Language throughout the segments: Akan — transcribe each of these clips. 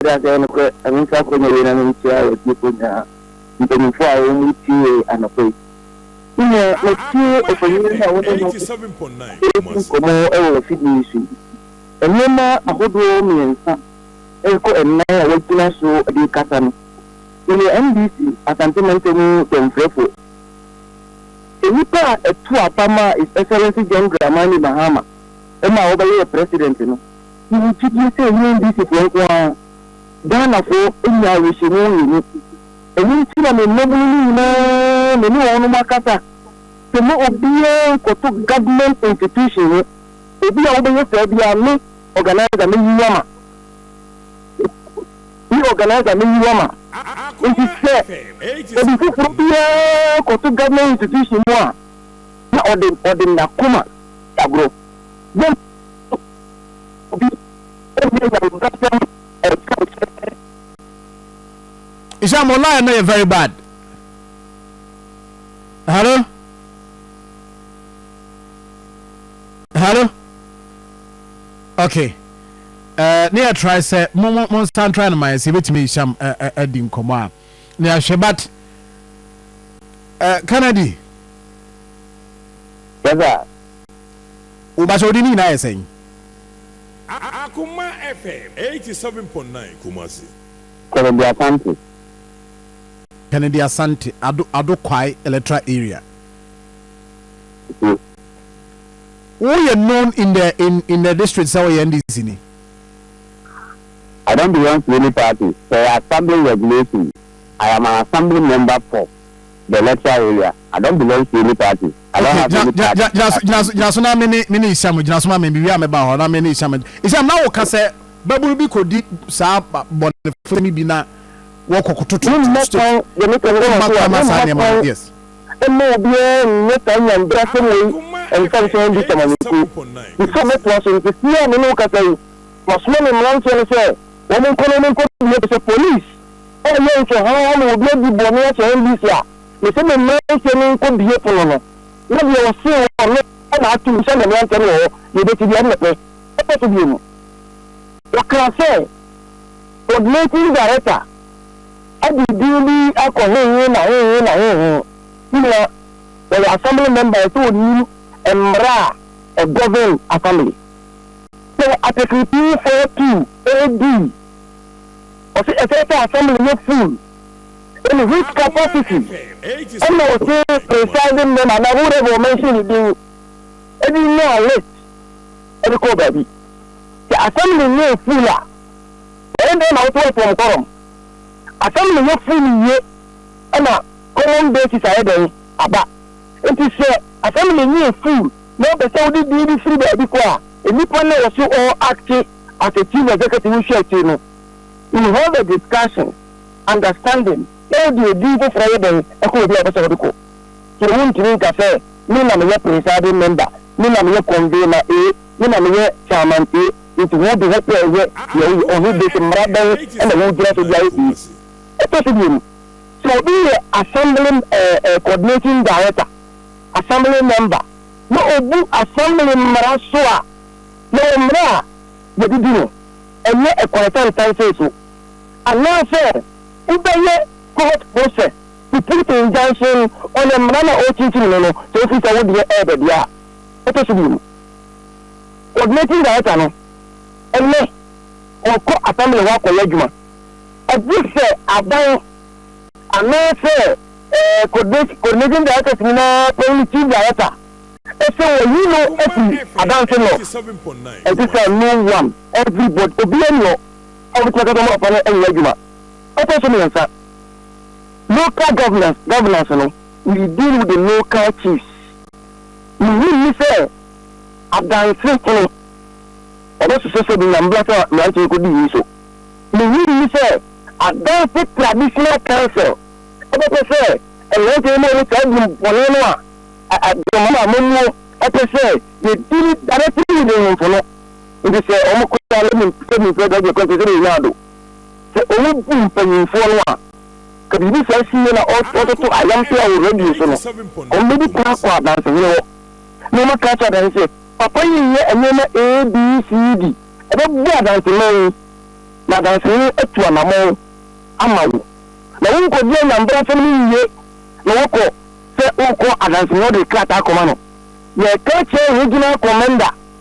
Ɛda ase sɛ ɛyɛ nokorɛ, ɛno nti akɔnya wei na no nkyerɛ wɔ atiefoɔ nyinaa, mpaninfoɔ a wɔn mo tie yɛn anɔpa yi. Me nua, matie ɔpanyin no a wo ne no redi nkɔmmɔ wɔ w'afidie yi so yi, nneɛma ahodoɔ mmiɛnsa rekɔ nnan a woagyina so de rekasa no, meyɛ NBC Asante Mantam dɔmfrɛfoɔ. Sɛ nipa a ɛto aba maa His Excellency John Dramani Mahama maa wɔbɛyɛɛ President no, Mewɔ gyidie sɛ ɛnyɛ NDCfoɔ nko ara, Ghanafoɔ nya awerɛhyɛmu wɔ yɛn mu. Ɛno nti na me mmabunu no nyinaa me ne wɔnom akasa sɛ mma obiara nkɔto government institution ho. Obi a wobɛyɛ saa biara me, organiser, mɛyi wo ama. Me, organiser, mɛyi wo ama. Nti sɛ obi foforɔ biara kɔto government institution mu a, na ɔde, ɔde n'akoma agorɔ. Yɛn. Isha mo line no yɛ very bad. Hello? Hello? Okay. Uh, ne yɛ try sɛ mo mo mo nsan try no ma yɛ sɛ ebetumi Isha mo uh, uh, adi nkɔmɔ a ne ahwɛ but uh, Kennedy. Yes sir. Wo ba sɛ odi ne nyinaa yɛ sɛn? Akoma FM eighty seven point nine Kumasi. Kennedy Asante. Kennedy Asante, Ado Ado Kwae electoral area. Nti wo yɛ known in the in in the district sɛ wo yɛ NDC ni? I don't belong to any party, sɛ ɛyɛ assembly regulation, I am an assembly member for the electoral area, I don't belong to any party. I don't okay, have any part. Gyina so na me ne me ne Isiam gyina so ma me wie a me ba hɔ na me ne Isiam Isiam na wɔka sɛ baburu bi kɔ di saa bɔnefo mi bi na wɔkɔ kototo stone yɛne kɛn bɛ wɔn so a ne mma kwan yes. Ɛmɛ obiara nyɛ saa nyambra fam wei ɛnfam sɛ ɛndi sɛ ma ne ku before mɛtoa so nti si a me ne wo kasa yi masoma me mmeranteɛ no sɛ wɔn nkɔ no wɔn nkɔ no sɛ police ɛyɛ nsɛ hɔn wɔn obi adi bɔne ahyɛ wɔn bi si a Mese mo mmeranteɛ no nkɔbue pono no, na deɛ ɔsee wɔ hɔ no na ato mu, sɛdeɛ mmeranteɛ no wɔ hɔ deɛ ɛbɛsi biara no pɛ. Ɛtɔ so mmienu, wɔkaa sɛ, Coordinating Director de din bi akɔ he he na he he na he he, ne nyinaa ɔyɛ Assembly Member, ɛsɛ ɔnim mmara a ɛ govern Assembly. Sɛ Atekripiifoɔ tu, AD, ɔse ɛsɛ sɛ Assembly yɛ full. in which capacity ɛna ɔsi presiding member na who dɛbɛ ɔmɛnsi ne din ɛdi nyaa list ɛdi kɔɔ baabi sɛ assembly nyɛ full a ɛyɛ dɛn na woto ɛfɔm kɔrɔm assembly yɛ full yie ɛna common basis ayɛ dɛn aba nti sɛ assembly nyɛ full na ɔpɛ sɛ wode din bi firi baabi kɔ a nnipa na wɔ so ɔ acte as a chief executive wohwɛ akyiri no you have a discussion Understanding, sɛ wode edin foforɔ yɛ dɛn kɔ baabi a wopɛ sɛ wode kɔ. So wontumi nka sɛ, Me na meyɛ presiding member, me na meyɛ convener ee, me na meyɛ chairman ee, nti wode wo pɛ yɛ deɛ woyɛ on who basis, mmara bɛn na wogyina so de ayɛ ee. Ɛtɔ so mmienu, sɛ obi yɛ assembly coordinating director, assembly member, na ɔbu assembly mmara so a, yɛwɔ mmara a yɛde di no, ɛnyɛ ɛkwan tantan sei so. anaasɛ wobɛyɛ court process to put injunction on mmara no a ɔrekyinkyim no no sɛ wofiri sɛ wodeɛ ɛyɛ baabi a ɛtɔ so mmienu coordinating director no ne ɔkɔ assembly hɔ akɔyɛ adwuma ɛgye sɛ aban anaasɛ coordinating directors nyinaa pɛn ne chief director ɛsɛ wɔyi no afiri adanse no ɛgye sɛ no one everybody obiara ni hɔ. a wobetumi akasa ma ɔfa no nyɛ adwuma. Ɛtɔ so mmiɛnsa, local governance governance no, we deal with the local chiefs. Ne ho nni sɛ Adanse hene ɔbɛhwehwɛ sɛ benya mmra sɛ mmerante nkodi eyi so. Ne ho nni sɛ Adanse traditional council bɛpɛ sɛ mmerante yi ma wɔn saa adwumpɔne no a, ɛɛ, Agyemama amammuo pɛ sɛ yɛdili directly with ahemfo no. Enti sɛ wɔkɔyɛ ara nim sɛ nim sɛ Daniel kɔn te sɛdeɛ ɔnya ado. Sɛ wɔbu mpanyinfoɔ no a, ka biribi saa si yie na wɔtoto ayampeaa wɔ radio so no, wɔbɛdi kwan akɔ adansehene hɔ na wɔaka akyerɛ adansehene sɛ, Papa yi reyɛ nneɛma ABCD, ɛbɛbɔ adanseman yi, na adansehene atu anamɔn ama wo. Na wonkɔdi anyambra asɛm no nwie na woakɔ sɛ worekɔ adansehene hɔ de krataa akɔma no. Yɛreka akyerɛ wo, wogyina kɔmɛnda.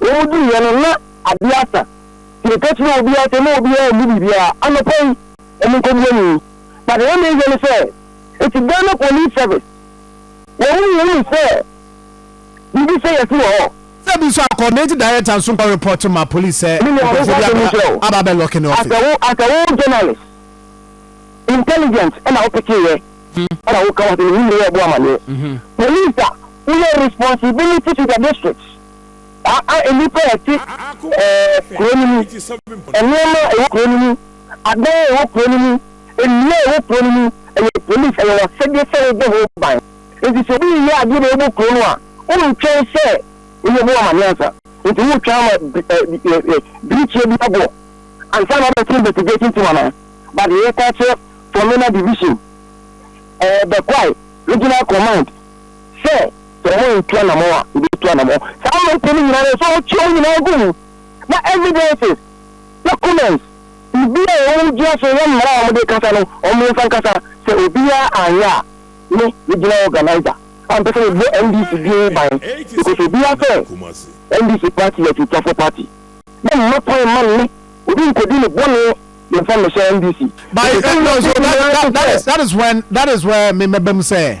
Woduiɛ no, na adeɛ asa. Nti ɔka kyerɛɛ obiara sɛ, Mma obiara mmu biribiara anɔpa yi, na monkɔbua no ngu. Na deɛ na mehwɛ ne sɛ, enti Ghana Police Service, wɔnhunu sɛ biribi sɛeɛ si wɔ hɔ? Sɛ bi nso a, Coordinating Director nso nkɔ report ma Police sɛ nkorɔfoɔ bi aba aba abɛ locke ne office. Asɛ wo journalist, intelligent na wo pekeeɛ na wo ka wo asɛm, menim deɛ yɛ bɔ amaneɛ. Police a. Woyɛ responsibility to the district a a nnipa a ɛte ɛɛ kuro no mu, nneɛma a ɛwɔ kuro no mu, adan a ɛwɔ kuro no mu, nnua a ɛwɔ kuro no mu, ɛyɛ police, ɛyɛ w'asɛdeɛ sɛ wobɔ ho ban. Nti sɛ obi reyɛ adeɛ na ɛbɔ kuro no a, wontwɛn sɛ woyɛ mu amane ansa. Nti wotwa ama ɛɛ birikyie bi abɔ ansa na wobɛte investigating team anaa? But yɛkɔ akyerɛ Formena division, ɛɛ Bekwai regional command, sɛ sɛ wɔretu anamɔn a yɛbɛtu anamɔn. Saa mmerante no nyinaa no sɛ wɔkyerɛ wɔn nyinaa gu mu na evidences ne comments biribiara a wɔn gyina so yɛ mmara a wɔn de kasa no wɔn nfa nkasa sɛ obiara anyɛ a me me gyina organiser a mpɛ sɛ me bɔ NDC bio ho ban because obiara sɛ NDC party yɛ atwitwafo party mɛ mma kwan mma mme obi nkɔdi ne bɔne yɛ nfa mmɛhyɛ NDC. By, that is, that is when, that is where me mɛbam sɛ.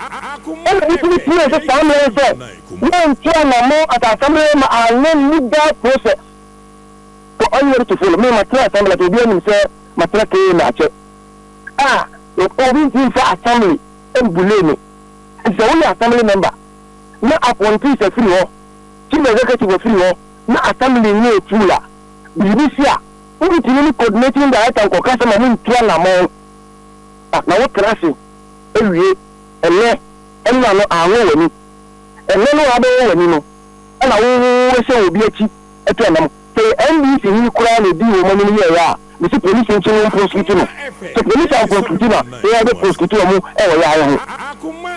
Ɛna wotumi tiee so saa mmerɛ yi sɛ yɛntu anammɔn asase no yɛn ma anyɛ legal process for anybody to follow. Me matena assembly ase obiara nim sɛ matena KA na akyɛ a obi ntumi mfa assembly mbully me nti sɛ woyɛ assembly member na appointees afiri hɔ chief executive afiri hɔ na assembly nyɛ yɛ full a biribi si a wontumi ne coordinating director nkɔka sɛ ma montu anammɔn na wotena ase awie ɛnnɛ ɛna no aho w'ani ɛnnɛ no abɛho w'ani no ɛna wo wo wo hyɛ obi akyi ɛto ɛnam sɛ yɛ NDC ni koraa na ɛdii wɔn anim yɛɛyɛ a mese polisi nkye no mprosecute no sɛ polisi ampronskute no a yɛn yɛbɛ prosecute wɔn ɛwɔ yɛaɛ ho.